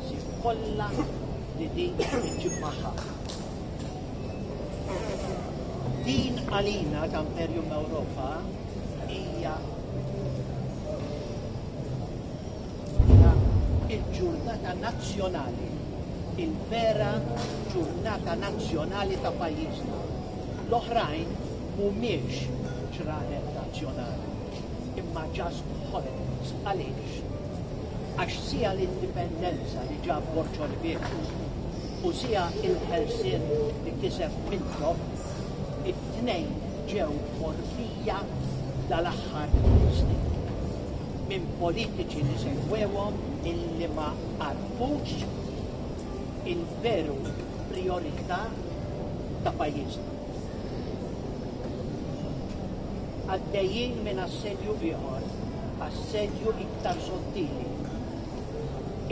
l-ispazji kollha li din iġġib magħha. Din għalina ta' Imperium Ewropa hija il-ġurnata nazzjonali, il-vera ġurnata nazzjonali ta' pajjiżna. L-oħrajn mhumiex ġranet nazzjonali, imma ġast ħolqot għaliex Għax siha l-indipendenza li ġab Borġo Lbiebsu u siha l-ħelsien li kiseb Mintoff, it-tnejn ġew morfija dal-aħħar snin minn politiċi li segwewhom illi ma għarfux il-veru prijorità ta' pajjiżna. għaddejjin minn assedju ieħor, assedju iktar sottili,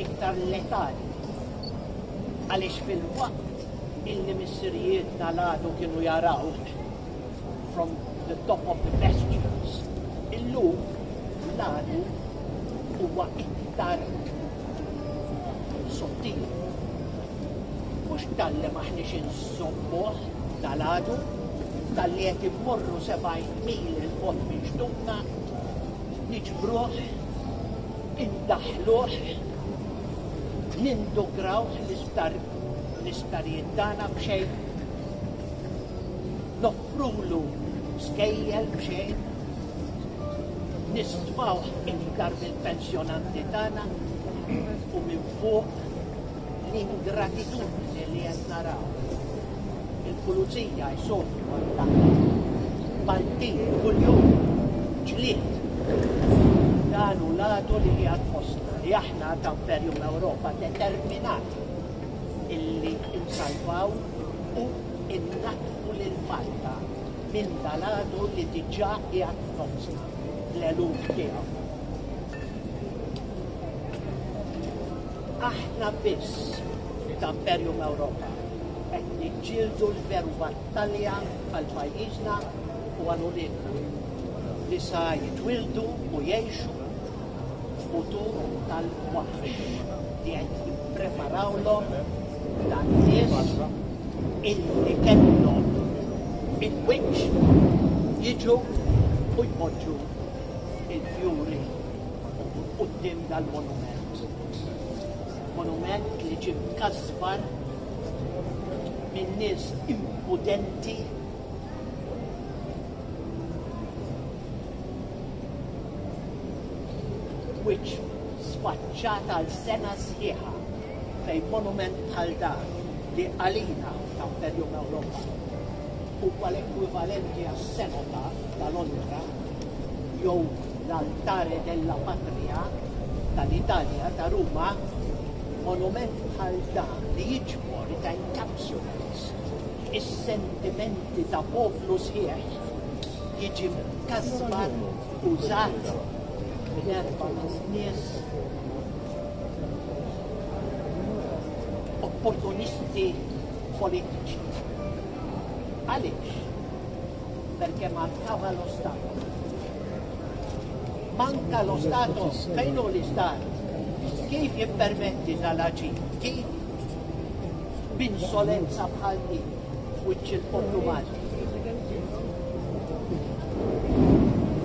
iktar letali. Għaliex fil-waqt illi missirijiet tal-għadu kienu jaraw from the top of the pastures, illum l-għadu huwa iktar sottili. Mhux talli m'aħniex inżommuh dalgħadu, talli qed immorru sebgħin mil 'il bogħod minn xtutna, niġbruh, indaħħluh, nindukrawh l-isptarijiet tagħna b'xejn, noffrulu skejjel b'xejn, nistmawh iktar mill-pensjonanti tagħna u minn fuq L-ingratitudni li qed naraw il-pulizija jsofru għal dak Maltin kuljum ġlied dan u l-għadu li qiegħed fostna li aħna ta' Imperium Ewropa determinat illi insalvaw u innaqfu lil Malta minn dal-għadu li diġà qiegħed fostna l-eluf tiegħu. Aħna biss li ta' Imperium Europa qed niġġieldu l-veru battalja għal pajjiżna u għal uliedna li sa jitwildu u jgħixu f'futur tal-waħx li qed jippreparawlhom dan nies illi kellhom il-wiċċ jiġu u jpoġġu il-fjuri qudiem dal-monument. Monument li ġie mkasbar minn nies impudenti wiċċ sfaċċat għal sena sħiħa fejn monument bħal dan li għalina ta' Imperium Ewropa huwa l-ekwivalenti għas-sena ta' Londra jew l-Altare della Patria tal-Italja ta' Ruma, monument bħal dan li jiġbor ta' encapsulates is-sentimenti ta' poplu sħiħ jiġi mkasbar użat minn erba' nies opportunisti politiċi. Għaliex? perché mancava lo Stato. Manca lo Stato fejn hu l-Istat. Kif jippermetti tal-aġi? Kif b'insolenza bħal din wiċċ il-poplu Malti?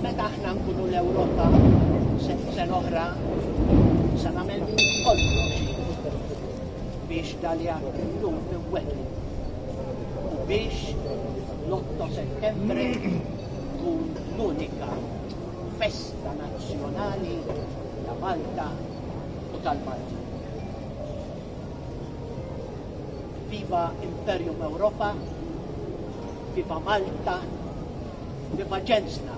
Meta aħna nkunu l-Ewropa sen oħra se nagħmel kollox biex dalja l-lum u biex L-8 Settembru tkun l-unika festa nazzjonali ta' Malta u tal-Malti. Viva Imperium Europa, viva Malta, viva ġensna.